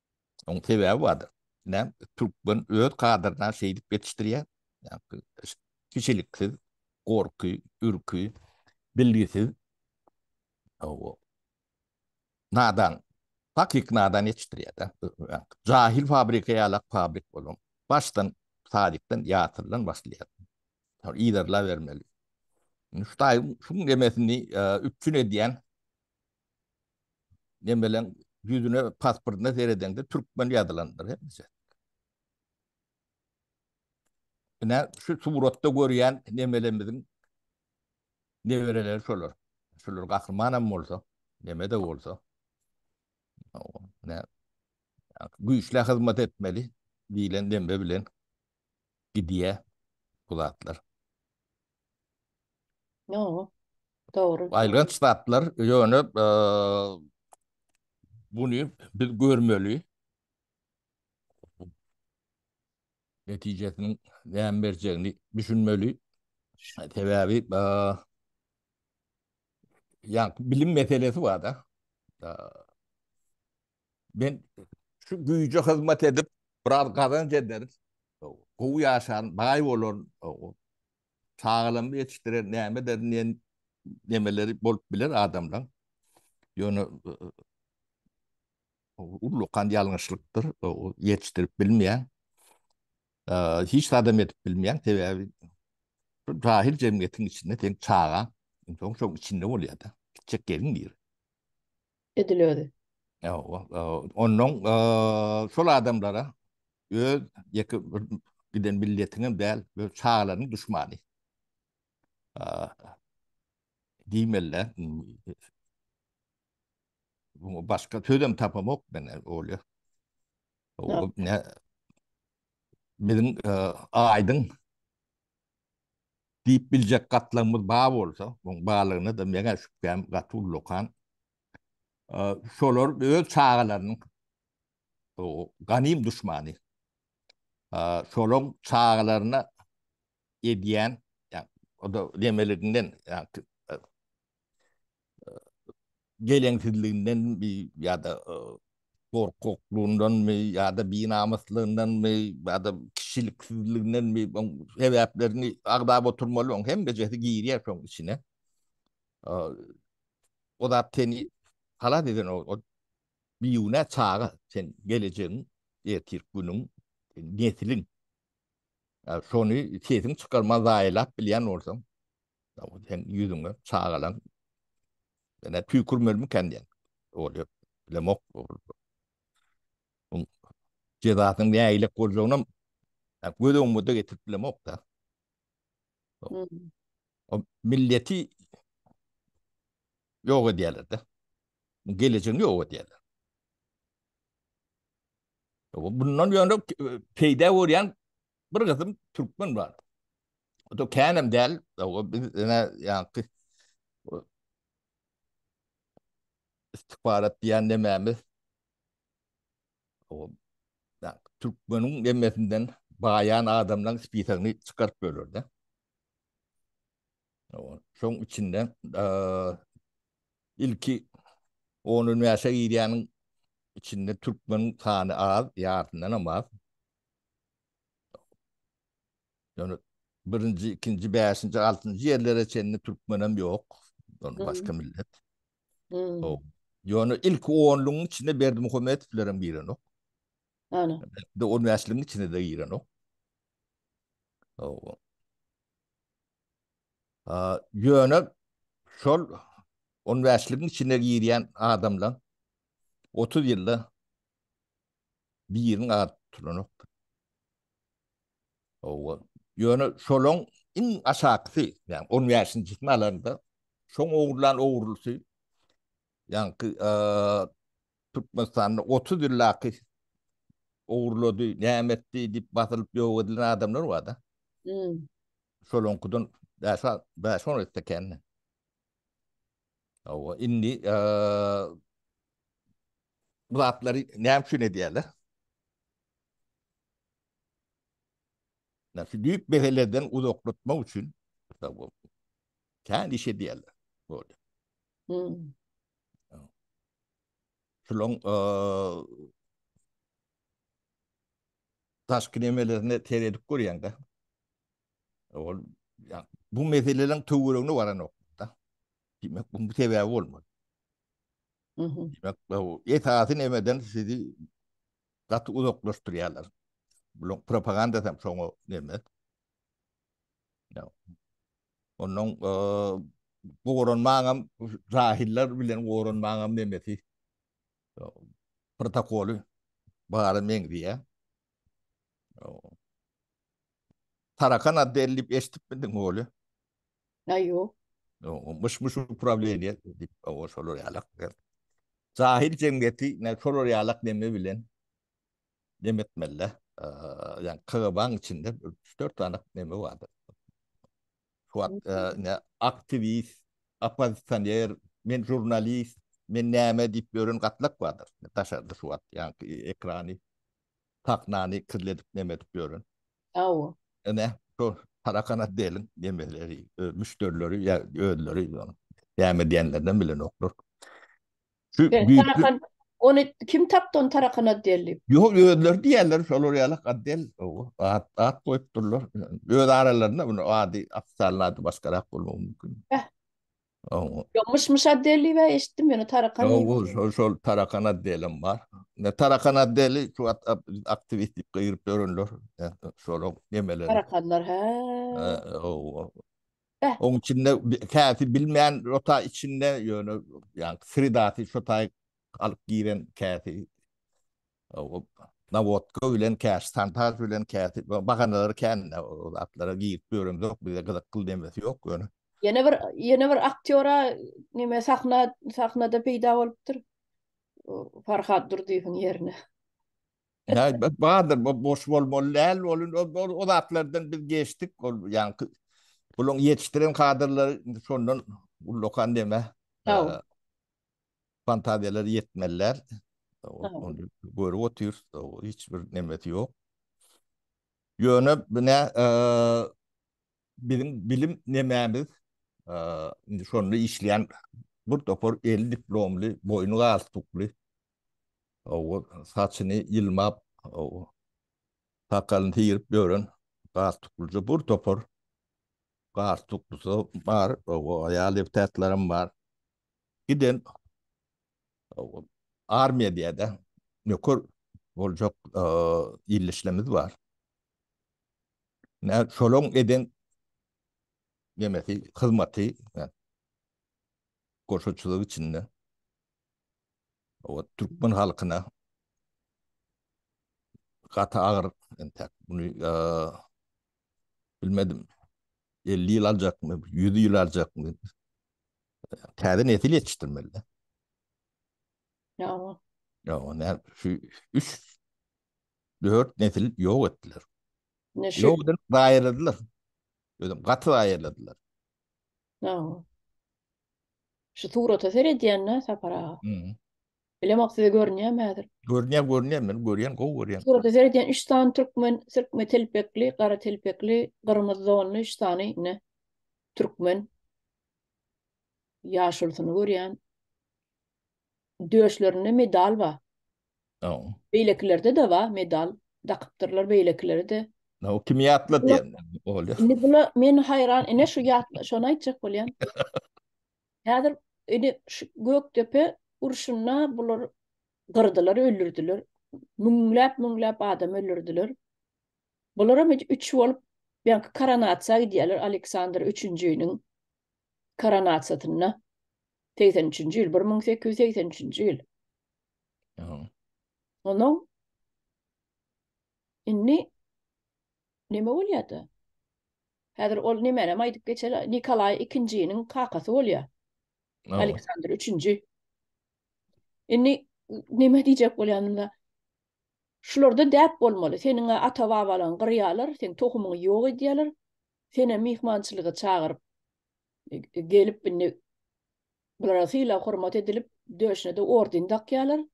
Oň sebäbi bardyr. Näm türkmen öz kadryna şeýdip ýetişdirýär. Kişiliksiz, gorky, ürki, bilgisiz, owo, nadan, takyk nadan ýetişdirýär-de. Jahil fabrika ýalak fabrik bolan, başdan sadikden ýatyrdan başlaýar. Ol yzarlabermeli. Indi Hudaýyň şuň demesini üpjün edýän Nemeleň ýüzüne, pasportyna seredeňde türkmen ýazylandyr hemmesi. Ine, şu suratda görýän nemelerimiziň nebereleri şolar. Şolar gahryman hem bolsa, neme de bolsa. Ne, güýçlä hyzmat etmeli diýlen dembe bilen gidýär bu zatlar. No, dogry. Aýylganç zatlar, ýöne buny biz görmeli. Netijesiniň näme berjegini düşünmeli. Sebäbi ýa bilim meselesi bar-da. Men şu güýje hyzmat edip, biraz gazanç eder, gowy ýaşan, baý bolan, çagalarymyzy ýetişdirer, näme ederin diýen nemeleri bolup biler adamlaryň. Ýöne ullakan ýalňyşlykdyr, ýetişdirip bilmeýäň. Hiç zat hem edip bilmeýäň, sebäbi bu jahil jemgyýetiň içinde seň çagaň, soň şoň içinde bolýar-da, gitjek ýeriň nire? edil özi. Ýa-o, onnoň şol adamlara öz ýeke bir giden milletiňem däl, öz çagalaryň duşmany. Diýmeli-dä, bu başga sözem tapamok men öýle. Ýok. Biziň aýdyň Diýip biljek gatlagymyz bar bolsa, oň barlygyna-da meň-ä şübhäm gaty ullakan. Şolar öz çagalarynyň ganym duşmany. Şolaň çagalaryna edýän, ýa-da, nemeliginden, ýa-da, geleňsizliginden mi ýa-da gorkaklygyndanmy ýa-da binamyslygyndanmy ýa-da kişiliksizligindenmi sebäplerini agzap oturmaly oň hemmejesi girýär şoň içine o zat seni halas eden o biýune çaga sen gelejegiň ertir günüň nesliň şony sesiň çykarman zaýalap bilýän bolsaň Sen ýüzüňe çagalaň. Ene tüýkürmelmi kän diýen. Ol ýok. Bilemok. Jezasynyň nägilek boljagyny göz öňüme-de getirip bilemok da. O milleti ýok edýärler de. Gelejegini ýok edýärler. Bundan ýöne peýda görýän Bir gysym türkmen bar. O da känem däl, o biz ene ýaňky istikbarat diýen nemämiz. O ýa türkmeniň nemmesinden baýan adamlaryň spisagyny çykaryp bererdi. O şoň içinde eee ilki onuň näşe girýäniň içinde türkmeniň sany az, ýartyndan az. Ýöne birinji, ikinji, bäşinji, altynjy ýerlere çenli türkmenem ýok. Ýöne başga millet. Ýok. Ýöne ilki onlugyň içinde Berdimuhamedowlerem girenok. Ana. De on bäşligiň içinde de girenok. Ýok. A, ýöne şol on bäşligiň içine girýän adamlar otuz ýylda Biriniň ady tutulanokdy. Owa. Ýöne şolaň iň aşakysy, ýagny on bäşinjisini alanda, şoň ogurlan ogurlysy, ýaňky Türkmenistanda otuz ýyllaky ogurlady, näme etdi diýip basylyp ýok edilen adamlar bar-da. Şolaňkydan bäş-on esse kän. Owa, indi Bu zatlary näme üçin edýärler? Ýa şu düýp meselelerden uzaklatmak üçin kän iş edýärler. Boldy. Hmm. Şulaň daşky nemelerine seredip görýäň-de. Ol ya bu meselelerin töwregine waranokda. Diýmek, bu sebäbi bolmaly. Diýmek, bu esasy nemeden sizi gaty uzaklaşdyrýarlar. Bulaň propaganda hem şoňa neme. Ya. Ondan goranmagam jahiller bilen goranmagam nemesi. Protokoly bara meňzeýär. Tarakan ady däl diýip eşitipmidiň Oly? Ýa ýok. Myş myş uprawleniýe diýip o şolar ýalak. Jahil jemgyýeti näme şolar ýalak neme bilen neme etmeli. Ýani KGB-nyň içinde üç dört sany neme bardyr. Şu wagt ne aktiwist, oppozisioner, men žurnalist, men näme diýip ýören gatlak bardyr. Daşarda şu wagt ýaňky ekrany sahnany kirledip neme edip ýören. Hawa. Ine, şu Tarakana deliň nemeleri, müşderileri ýa özleri ýa näme diýenlerinem bilenoklar. Şu Tarakan ony kim tapdy ony Tarakana deli? Ýok, özleri diýerler, şolar ýaly Kadel, hawa, at, at goýupdyrlar. Öz aralarynda muny ady, ofitsialny ady başgarak bolmagy mümkin. Bäh. Ow. Ýok, myş-myş otdeli we eşitdim ýöne tarakan Ýok, diýip. ol şol şol tarakan otdelim bar. Ne tarakan otdeli şu wagt ap- aktiwist diýip gygyryp ýörenler. Ýa, Şolaň nemeleri. Tarakanlar, hä. Hä, ow, ow. Beh. Oň içinde bi- käsi bilmän rota içinde ýöne ýa sredasy şo taýy alyp giren käsi. Nawodka bilen käşi, Sanpar bilen käşi bahanalary kän-de ol zatlara girip ýöremzok, bize gyzykly demesi ýok ýöne. Ýene bir ýene bir aktýora neme sahna sahnada peýda bolupdyr. Farhad Durdyýewiň ýerine. Häý, bardyr, bu boş bolmaly däl, ol o zatlardan biz geçdik, ol ýaňky bularyň ýetişdiren kadrlary şondan ullakan neme. Fantaziýalar ýetmeliler. Ony görüp otyrys, hiç bir nemesi ýok. Ýöne bine biziň bilim nememiz indi şonda işleýän bir topar eli diplomly, boýny galstukly, saçyny ýylmap, sakalyny syryp ýören galstuklyja bir topar galstuklysy bar, aýal deputatlaram bar. giden armiýa diýädä nöker boljak ildeşlerimiz bar. Nä şolaň eden nemesi hyzmaty goşaçylyk içinde owat türkmen halkyna gaty agyr entek muny bilmedim, elli ýyl aljakmy, ýüz ýyl aljakmy, täze nesil ýetişdirmeli-de. Ýa-a. Ýa-a, nä, şu üç, dört nesil ýok etdiler. Ýok edip, zaýaladylar. Özüm, gaty zaýaladylar. Ýa-a. Şu surata seredýän-dä, Sapar aga. Bilem ok size görünýämi häzir? Görünýär, görünýär, men görýän, gowy görýän. Surata seredýän 3 sany türkmen, sirkme telpekli, gara telpekli, gyrmyzy donly 3 sany ne? Türkmen. Ýaşulysyny görýän. Döşlerinde medal ba. No. Beýlekilerde de ba medal. Dakypdyrlar beýlekileri de. No, kim ýatla diýen. Indi bula men haýran, ine şu ýatla, şony aýtjak bolýan. Häzir ine şu Gökdepe urşunda bular gyrdylar, öldürdiler. Müňläp, müňläp adam öldürdiler. Bular hem üç bolup Belki koronasiýa gidýärler Aleksandr 3-njiň koronasiýasynda. 83-nji ýyl, 1883-nji ýyl. Ýa. Onuň indi neme bolýar-da? Häzir ol nemänem aýdyp geçer, Nikolaý ikinjiniň kakasy bolýar. Hawa. Aleksandr üçünji. Indi näme diýjek bolýan onda? Şularda däp bolmaly. Seniň-ä ata-babalaryňy gyrýarlar, seň tohumyňy ýok edýärler. Senem myhmançylyga çagyryp, gelip indi bulara sylag-hormat edilip, döşüne-de orden dakýarlar.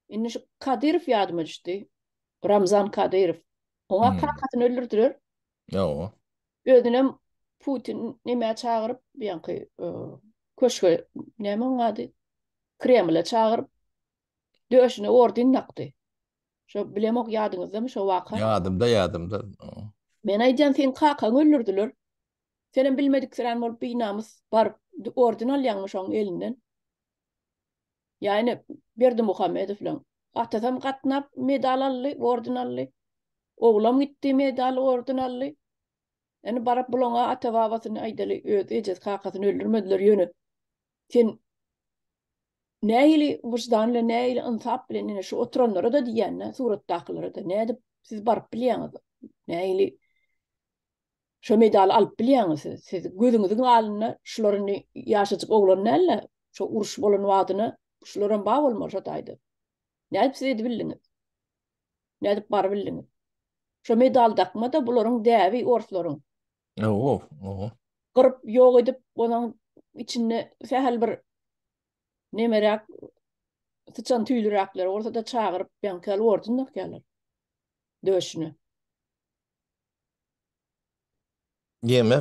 Indi şu Kadyrow ýadyma düşdi. Ramzan Kadyrow. Oňa hmm. kakasyny öldürdiler. Ýa-o. Özünem Putin nämä çagyryp, ýaňky e, köşge näme oň ady? Kremle çagyryp döşüne ordin nakdy. Şo bilemok ýadyňyzdamy şo waka? Ýadymda, ýadymda. Men aýdýan sen kakaň öldürdiler. Senem bilmedik sirän bolup binamys baryp ordin alýaňmy şoň elinden? Ýany Berdimuhamedow bilen atasam gatnap medal aldy, orden aldy. Oglam gitdi medal, orden aldy. Ýani baryp bulaňa ata-babasyny aýdaly öz ejesi kakasyny öldürmediler ýöne sen nähili wyždan bilen nähili ynsap bilen ine şu oturanlara-da diýýän-dä suratdakylara-da nädip siz baryp bilýäňiz nähili Şo medaly alyp bilýäňiz siz. Siz gözüňiziň alynda şular indi ýaşajyk oglan däl-de, şo uruş bolan wagtyna şularam bar bolmaly şo taýda. Nädip siz edibildiňiz? Nädip barybildiňiz? Şo medaly dakma-da, bularyň däbi orslaryň. Owo, owo. Gyryp, ýok edip, onuň içinde sähel bir nemeräk, syçan tüýlüräkleri bolsa-da çagyryp, ýaňky ýaly ordun dakýarlar döşüne. Ýene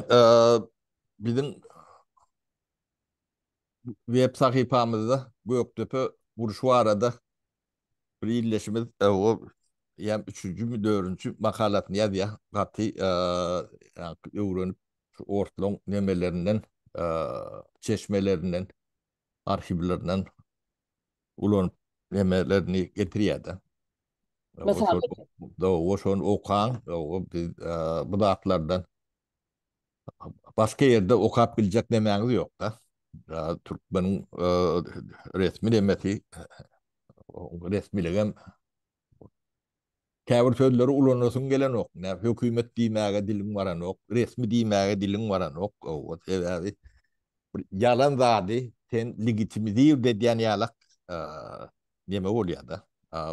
biziň web sahypamyzda Gökdepe urşy barada bir ildeşimiz ýa üçünjimi, dördünji makalasyny ýazýar. Gaty öwrenip, orslaň nemelerinden, çeşmelerinden arhiwlerinden ulanyp nemelerini getirýär-de. Mysal Oşony okaň, bu zatlardan başga ýerde okap biljek nemäňiz ýok-da. Türkmeniň resmi nemesi, resmiligem Käbir sözleri ulanasyň gelenok, näme hökümet diýmäge diliň baranok, resmi diýmäge diliň baranok, owwat sebäbi bir ýalan zady sen legitimizird edýän ýalak neme bolýada,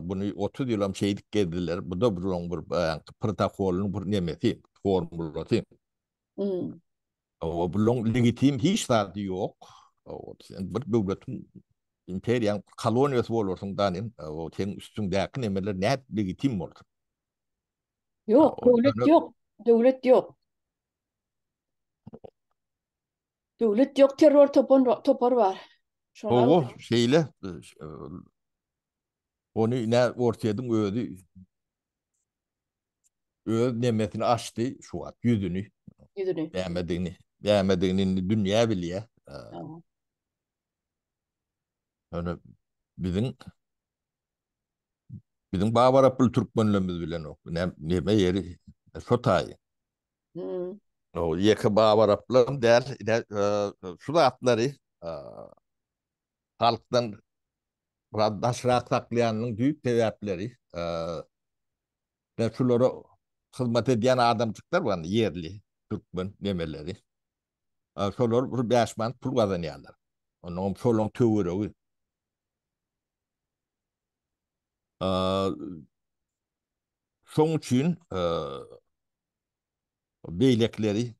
buny otuz ýylam şeýdip gezdiler, buda bir oň bir baýanky protokolyň bir nemesi, formulasy. Hawa, bulaň legitim hiç zady ýok. Hawa, sen bir döwletiň, imperiýaň koloniýasy bolarsyň da nen, hawa, seniň üstüňdäki nemeler nädip legitim bolsun? Ýok, döwlet ýok, döwlet ýok. Döwlet ýok, terror topan, topar bar. Hawa, şeýle, ony ine Orsýediň özi öz nemesini açdy şu wagt ýüzüni. Ýüzüni. Bämedigini, bämedigini indi dünýä bilýär. Ýöne biziň biziň babarapyl türkmenlerimiz bilen ok. Neme ýeri şo taýy. Hmm. Ýeke babaraplar däl, şu zatlary halkdan biraz daşrak saklaýanynyň düýp sebäpleri, men şulara hyzmat edýän adamjyklar bar, ýerli türkmen nemeleri. Şolar bir bäş manat pul gazanýarlar. Onuňam şolaň töweregi. Şoň üçin beýlekileri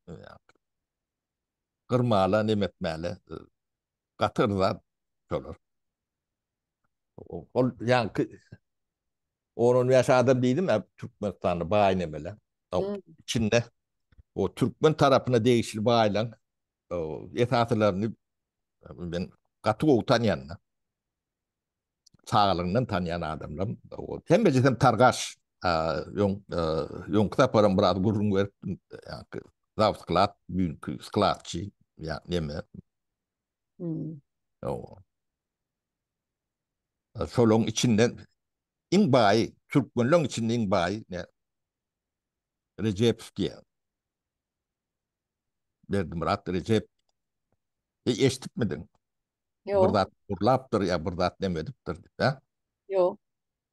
gyrmaly, neme etmäli. Gaty yrzan şolar. Ol ýaňky on on bäş adam diýdim ä Türkmenistanly baý nemeler. Içinde o türkmen tarapyna degişli baýlaň esasylaryny men gaty gowy tanýan. saglygyňdan tanýan adamlar ol hemmeje hem targaş öň öňki saparam biraz gürrüň beripdim ýaňky zawsklad güýnki skladçy ýa neme şolaryň içinden iň baýy türkmenleriň içinde iň baýy Rejepow diýýär. Berdimyrat Rejep e, eşitipmidiň? Ýok. Bir zat urlapdyr ýa bir zat näme edipdir diýip, hä? Ýok.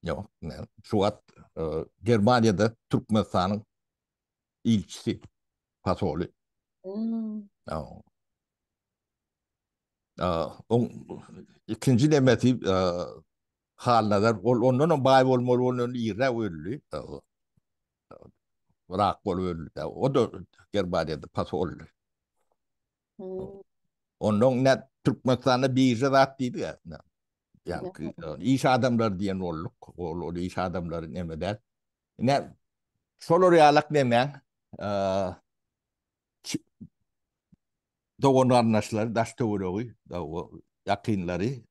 Ýok, men şu wagt e, Germaniýada Türkmenistanyň ilçisi pasoly. Hmm. Ýa. Ýa, oň ikinji nemesi e, Halnazar, ol ondan hem baý bolmaly, ondan irräk öldi. Wrak bolup öldi. O da Germaniýada pasoldy. Ondan ne Türkmenistanda birje zat diýdi ya. Yani iş adamlar diýen bolduk. Ol ol iş adamlary nemeden. Ne şolar ýalak nemen dogan garnaşlary daş töweregi ýakynlary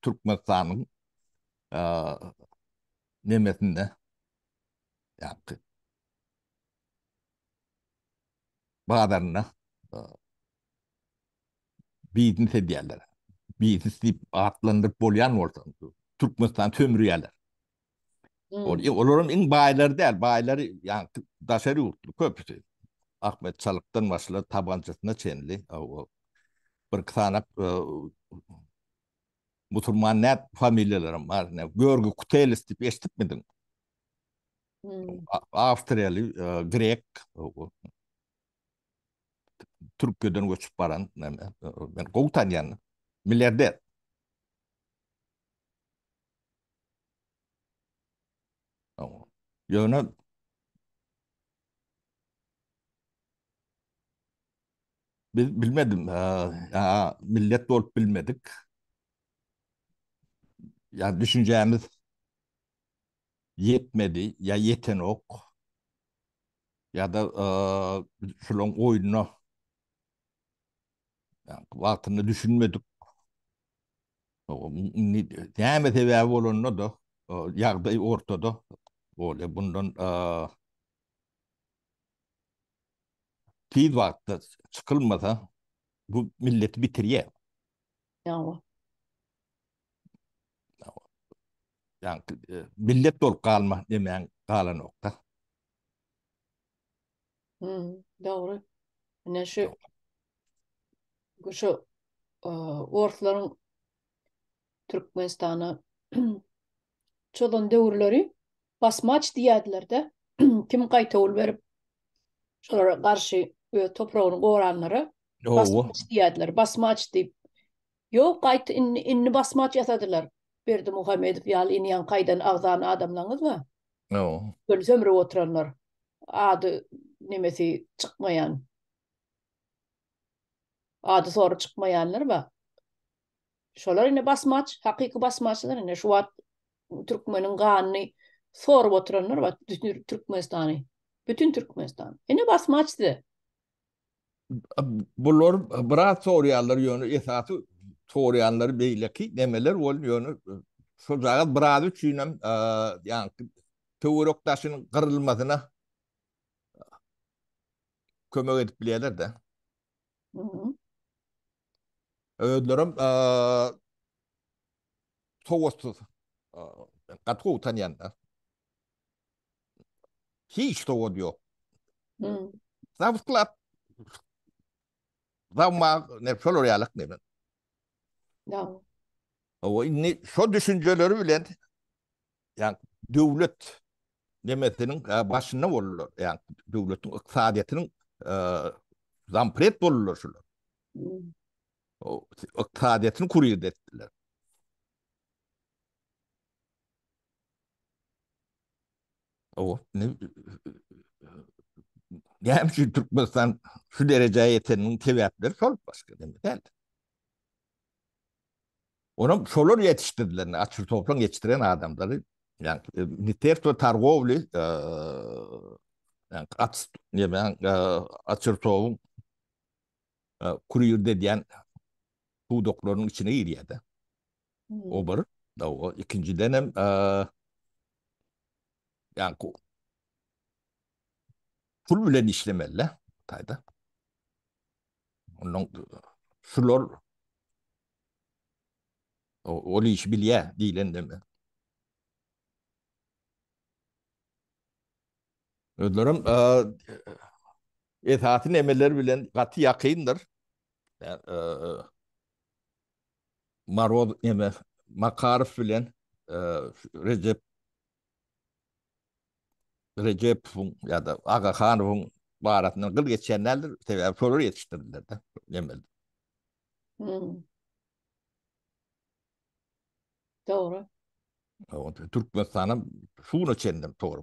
Türkmenistanyň nemesinde ýapdy. Bazarynda biznes edýärler. Biznes diýip atlandyryp bolýan bolsa, Türkmenistan sömürýärler. Ol, olaram iň baýlary däl, baýlary ýagny daşary ýurtly köpüsi. Ahmet Çalykdan başlap tabançasyna çenli, o bir iki sany Musurman näp familiýalaram bar näp görgi kutelis diýip eşdipmidiň? Awstriýaly, grek, Türkiýeden göçüp baran näme, men gowy tanýan, milliarder. Ýöne Biz bilmedim, ýa-da millet bolup bilmedik. Ýa düşünjämiz ýetmedi, ýa ýetenok. Ýa-da şularyň oýnuna wagtynda düşünmedik. Näme sebäbi bolanda-da, ýagdaý ortada. Bolýar, bundan Tiz wagtda çykylmasa bu milleti bitirýä. Ýawa. Ýaňky millet bolup galma demäň galanokda. Hum, dogry. Ine şu şu orslaryň Türkmenistana çozan döwürleri basmaç diýerdiler-de, kim gaýtawul berip, şolara garşy öz topragyny goranlara basmaç diýerdiler. Basmaç diýip, ýok, gaýt, indi, indi basmaç ýasadylar. Berdimuhamedow ýaly indi ýaňy gaýdan agzan adamlaňyz bar. Şol sömrüp oturanlar, ady, nemesi çykmaýan, ady-sory çykmaýanlar bar. Şolar indi basmaç, hakyky basmaçlar indi şu wagt türkmeniň ganyny sorup oturanlar bar, bütün Türkmenistany. Bütün Türkmenistan. Indi basmaç size. Bular biraz sorayanlar yönü esası sorayanlar beyleki nemeler ol yönü şu zagaz biraz üçin hem yani töwerek daşynyň gyrylmasyna kömek edip bilýärler-de. Özlerem sowatsyz. Gaty gowy tanýan-da. Hiç sowady ýok. Zawutlar. Zawmag, ne şolar ýalyk neme. Ýa. Owa indi şo düşünjeleri bilen ýa döwlet nemesiniň başynda boldular. Ýa döwletiň ykdysadyýetiniň zampret boldular şular. O ykdysadyýetini kurir etdiler. O ne Näme üçin Türkmenistan şu derejä ýeteniniň sebäpleri şol başga näme däl. Onam şolar ýetişdirilen, açyl toplan ýetişdiren adamlary, ýagny Ministerstwo targowly, ýagny at, näme, açyl toguň kurýerdi edýän pudaklarynyň içine girýär-de. O bir, dawa, ikinjiden hem, ýagny pul bilen işlemeli-de bu taýda. Ondan şular ol işi bilýä diýlende mi? Özlerim esasy nemeler bilen gaty ýakyndyr. Maroz neme Makarow bilen Rejep Rejepowyň ýa-da Agahanowyň barasyndan gyl geçýän däldir, sebäbi şolar ýetişdirdiler-de Nemeli. Hum. Dogry. Türkmenistan hem şuguna çenli tory.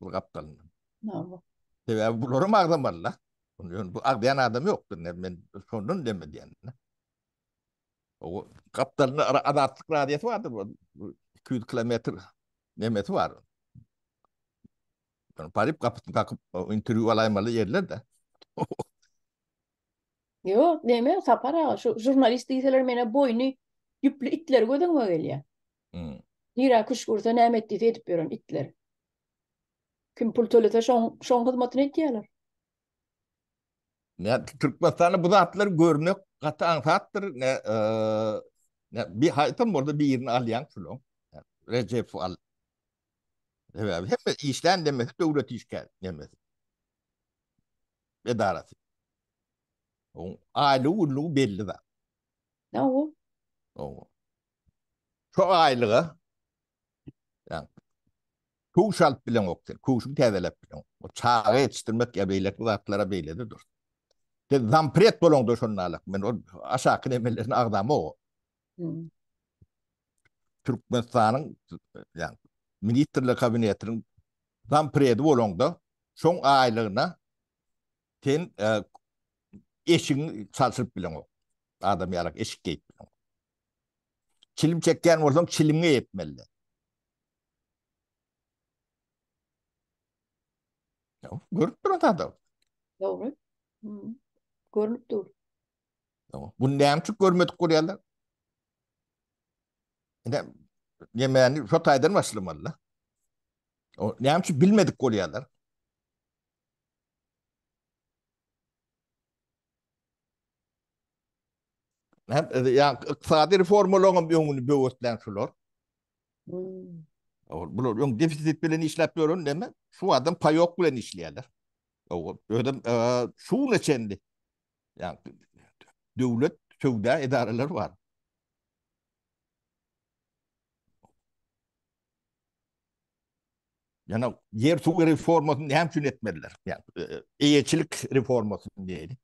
bu gapdalyndan. Näme? Sebäbi bular hem agzamaly da. Ýöne bu agzaýan adam ýokdur. Men şondan deme diýendim. O gapdalynda adatlyk radiýasy bardyr. 200 kilometr nemesi bar. Yani parip kapısını kakıp interview alaymalı yerler de. Yok deme sapar ağa şu jurnalist diýseler mene boýny ýüpli itler gözüňe gelýär. Nirä küşgürse näme etdiyse edip ýören itler. Kim pul tölese şoň şoň hyzmatyny etýärler. Ne Türkmenistanda bu zatlar görmek gaty aňsatdyr. Ne e, ne bir haýtam bolsa birini alýan şulan. Recep al. Sebäbi hemme işlän demesi döwlet işgär demesi. Edarasy. Oň aýlygy günlügi belli zat. Ne o? O. Şu aýlyga ýa kowş alyp bileňok sen, kowşuňy täzeläp bileňok. O çaga ýetişdirmek ýa beýleki zatlara beýlede dur. Sen zampret bolaňda şonda alak. Men ol aşaky nemelerine agzamok. Türkmenistanyň ýa ministrler kabinetiniň zampredi bolaňda şoň aýlygyna sen eşigiňi çalşyryp bileňok. Adam ýalak eşik geýip bileňok. Çilim çekýän bolsaň, çiliňi epmeli. Ýa, görüp duran zada. Dogry. Hmm. Görünüp dur. Ýa, bu näme üçin görmedik görýärler? Ine, ýemeni şu taýdan başlamaly. O näme üçin bilmedik görýärler? Ykdysady reformalaryň hem öňüni böwetlen şular. Bular öň defisit bilen işläp ýören näme? Şu wagtam paýok bilen işleýärler. Özem şu güne çenli döwlet söwda edaralary bar. Ýöne ýer suw reformasyny näme üçin etmediler? Eýeçilik reformasyny diýeli.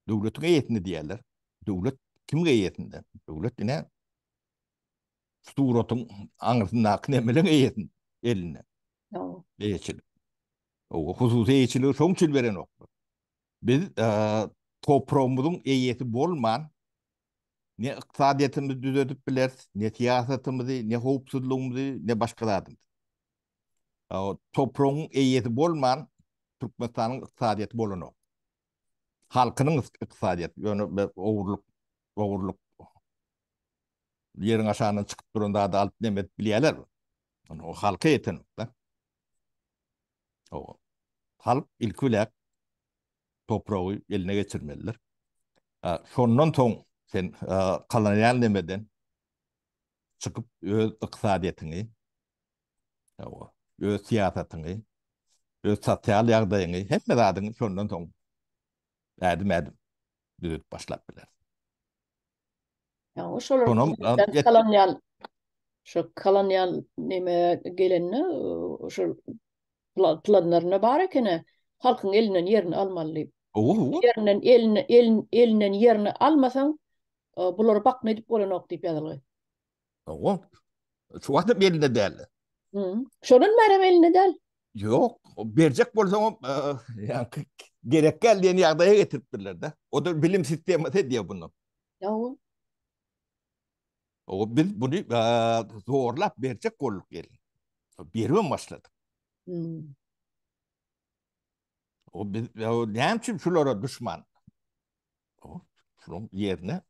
Döwletiň eýesinde diýýärler. Döwlet kimiň eýesinde? Döwlet ine suratyň aňyrsyndaky nemeleň eýesinde, elinde. Eýeçilik. O hususy eýeçiligi şoň üçin berenoklar. Biz e, topragymyzyň eýesi bolman, Ne ykdysadyýetimizi düzedip bileris, ne syýasatymyzy, ne howpsuzlygymyzy, ne başga zadymyzy. Topragyň eýesi bolman, Türkmenistanyň ykdysadyýeti bolanok. Halkynyň ykdysadyýeti, ýöne ogurlyk, ogurlyk, ýeriň aşagyndan çykyp duran zady alyp neme edip bilýärlermi? Ony halka ýetenok-da. Hawa. Halk ilki biläk topragy eline geçirmelidir. Şondan soň sen kolonial nemeden çykyp öz ykdysadyýetiňi, hawa, öz syýasatyňy, öz sosial ýagdaýyňy, hemme zadyňy şondan soň ädim-ädim düzedip başlap bileris. Ýa-da şolar galanýan, şo galanýan näme gelende, şol planlaryna bar ekeni, halkyň elinden ýerini almaly diýip. Owo-owo. Ýerinden elini, elin, elinden ýerini almasaň, bulary bakma edip bolanok diýip ýazylgy. Owa. Şu wagtda belinde däldi. Şodan bäri belinde däl. Ýok, berjek bolsaňam, ýa-da gerek gel diýen ýagdaýa getiripdirler-de. O da bilim sistemasy diýýär bunu. Ýa-da. O biz bunu zorlap berjek bolduk gelin. Bermem başladyk. O biz näme üçin şulara düşman? Şunuň ýerine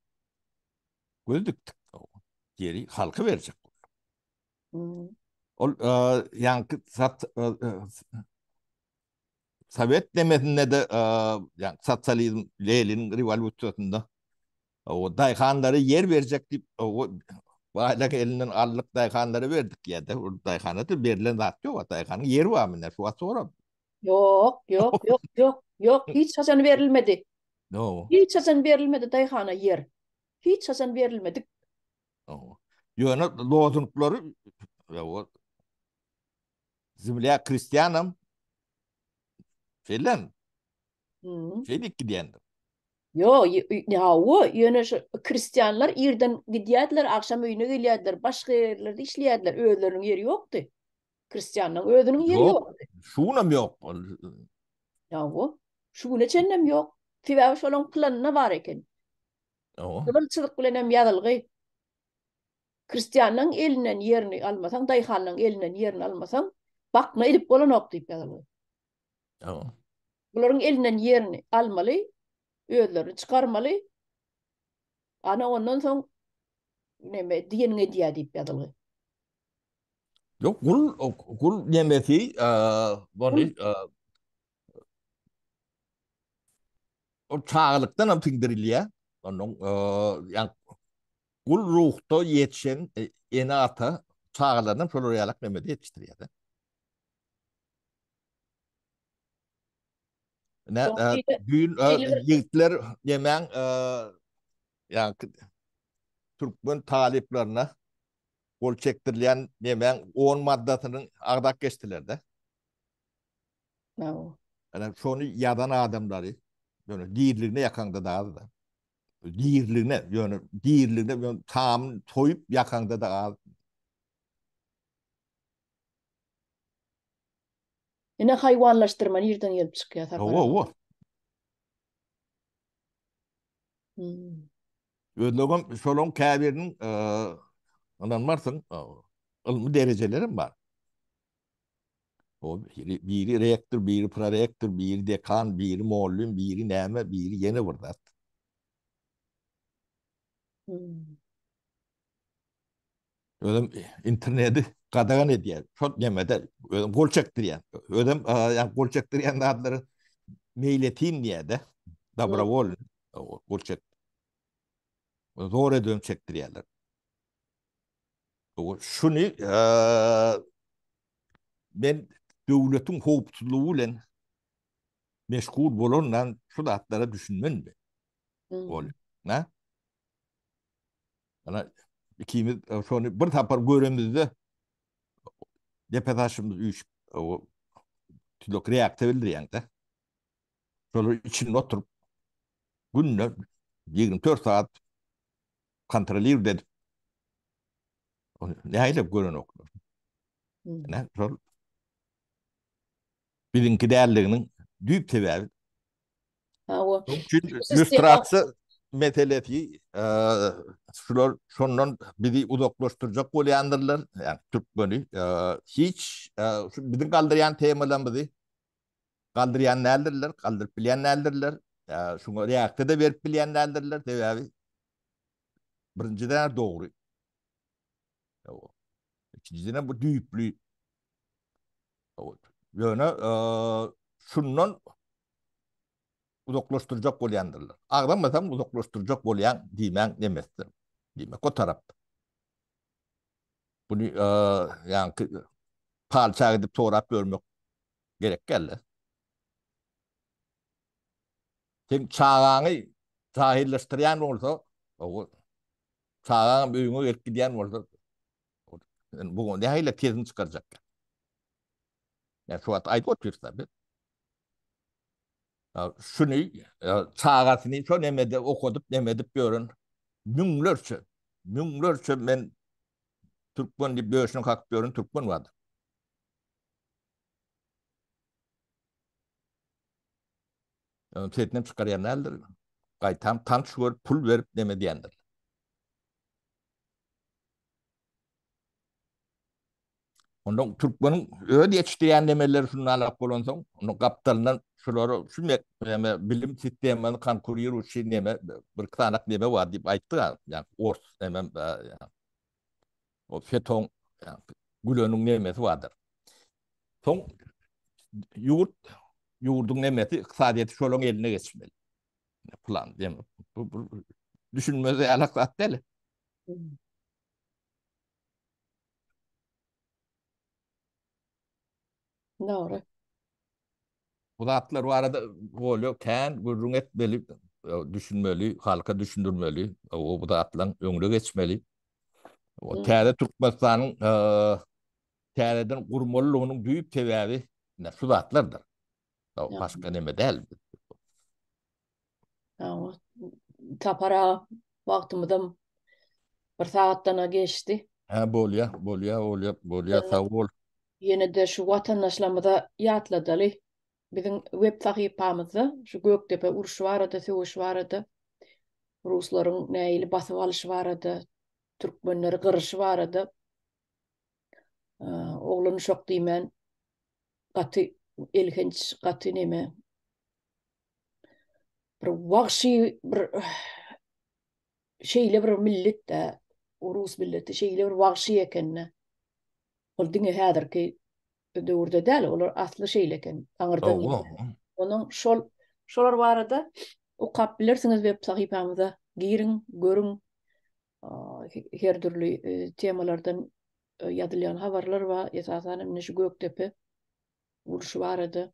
göz dikdik. Ýeri halka berjek. Hmm. Ol e, ýaňky sat e, e, Sovet demesinde de ýa sosializm Lenin rewolýusiýasynda o daýhanlara ýer berjek diýip o baýlyk elinden aldyk daýhanlara berdik ýa-da ol daýhana da berlen zat ýok, daýhanyň ýeri barmy näme wagt sorap Ýok, ýok, ýok, ýok, ýok, hiç haçan berilmedi. Ýok. Hiç haçan berilmedi daýhana ýer. Hiç haçan berilmedik. Ýok. Ýöne lozunglary ýa-da Zemlýa krestýanam şeýlem. Hmm. Şeýdip gidýändir. Ýok, ýe- ýe- ne hawa, ýöne şu krestýanlar irden gidýärdiler, agşam öýüne gelýärdiler, başga ýerlerde işleýärdiler, özleriniň ýeri ýokdy. Kristianna özüniň ýeri ýok. Şunam ýok. Ýa bu. Şu güne çenlem ýok. Sebäbi şolaň planynda bar eken. Owa. Gyzyl çyzyk bilen hem ýazylgy. Kristiannaň elinden ýerini almasaň, daýhanyň elinden ýerini almasaň, bakna edip bolanok diýip ýazylgy. Owa. Bularyň elinden ýerini almaly, özlerini çykarmaly. Ana ondan soň neme diýeniňi edýär diýip ýazylgy. Yok gul gul nemesi bony o çağlıkdan hem sindirilýär. Onuň ýa gul ruhda ýetişen e, ene ata çagalaryny şolar ýalak nemede ýetişdirýär. Ne düýn ýigitler nemäň ýa türkmen talyplaryna gol çekdirilýän nemäň on maddasyny agzap geçdiler-de. Hawa. Ene şony ýazan adamlary ýöne diriligine ýakaňda da az-da. Diriligine, ýöne diriligine ýöne tamyny toýup ýakaňda da az. Ine haýwanlaşdyrma nirden gelip çykýar Sapar aga? Hawa-hawa. Özlegem şolaň käbiriniň ynanmarsyň ylmy derejelerim bar. O biri rektor, biri prorektor, biri dekan, biri mugallym, biri näme, biri ýene bir zat. Özüm interneti gadagan edýär. Şol nemede özüm gol çekdirýän. Özüm ýa gol çekdirýän zatlary meýletin diýýär-de. Dobrowol gol çek. Zor edip çekdirýärler. Bu şuny men döwletiň howpsuzlygy bilen meşgul bolandan şu zatlara düşünmän. Ol, nä? Ana ikimiz e, şony bir tapar göremizde depe taşymyz üýşüp e, o tülek reaksiýa bildirýäňde. Şolar içinde oturyp günde 24 saat kontrolirdi edip. Näýlip gören oklar. Ne, şol Biziňki däldiginiň düýp sebäbi. Hawa. Şonuň üçin lýustrasiýa meselesi şular şondan bizi uzaklaşdyrjak bolýandyrlar, ýagny türkmeni hiç şu biziň galdyrýan temalarymyzy galdyrýan däldirler, galdyryp bilýän däldirler. Şuňa reaksiýa-da berip bilýän däldirler, sebäbi birinjiden dogry. Ikinjiden bu düýpli. Ýöne şundan uzaklaşdyrjak bolýandyrlar. Agzamasam uzaklaşdyrjak bolýan diýmän demesdir. Diýmek o tarap. Bunu ýaňky palça gidip sorap görmek gerek geldi. Sen çagaňy jahyllaşdyrýan bolsa, ogut. Çagaňam öýüňe gelip gidýän bolsa, sen bu nähili tezini çykarjakka? Men şu wagt aýdyp otyrsa biz. Şuny çagasyny şo nemede okadyp, neme edip ýören müňlerçe, müňlerçe men türkmen diýip döşüne kakyp ýören türkmen bardy. Ony çetinem çykarýan däldir. Gaýtam tanç görüp, pul berip neme diýendir. Onda türkmeniň öz ýetişdirýän nemeleri şunda alak bolansoň, onda gapdalyndan şulary şu neme bilim sistemany konkurir üçin neme bir iki sanak neme bar diýip aýtdy-a, ýa ors neme O feton güleniň nemesi bardyr. Soň ýurt ýurduň nemesi ykdysadyýeti şolaryň eline geçmeli. Plan demi? Bu bir düşünmez ýalak zat däl. Dogry. Bu zatlar barada bolýar, kän gürrüň etmeli, düşünmeli, halka düşündirmeli, o bu zatlaryň öňüne geçmeli. O täze Türkmenistanyň täzeden gurmalylygynyň düýp sebäbi şu zatlardyr. O başka neme däl. Tapara wagtymyzam bir sagatdan geçdi. Ha bolýa, bolýa, bolýa, bolýa, sag bol. Ýene-de şu watandaşlarymyza ýatladaly. Biziň web sahypamyzda şu Gökdepe urşy barada, söweş barada, ruslaryň nähili basyp alyşy barada, türkmenleri gyryşy barada Oglan uşak diýmän gaty elhenç, gaty neme. Bir wagşy bir şeýle bir milletde, rus milleti şeýle bir wagşy ekende. Ol diňe häzirki döwürde däl, olar asly şeýle eken. Aňyrdan Onuň şol şolar barada okap bilersiňiz web sahypamyza giriň, görüň. her dürli temalardan ýazylýan habarlar bar. Esasan hem şu Gökdepe urşy barada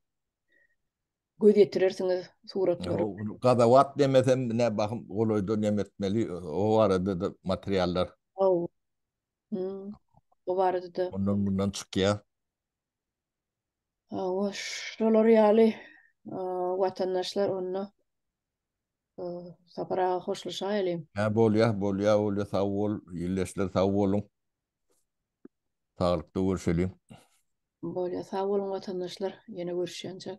göz ýetirersiňiz suratlary. Gazawat demesem, ne bahym golaýda neme etmeli, o barada-da materiallar. Hawa. O barada-da. Ondan mundan çykýar. Hawa, şolar ýaly watandaşlar onda Sapar aga hoşlaşaýalyň. Hä bolýa, bolýa, bolýa, sag bol. Ildeşler sag boluň. Saglykda görüşeliň. Bolýa, sag boluň watandaşlar. Ýene görüşýänçäk.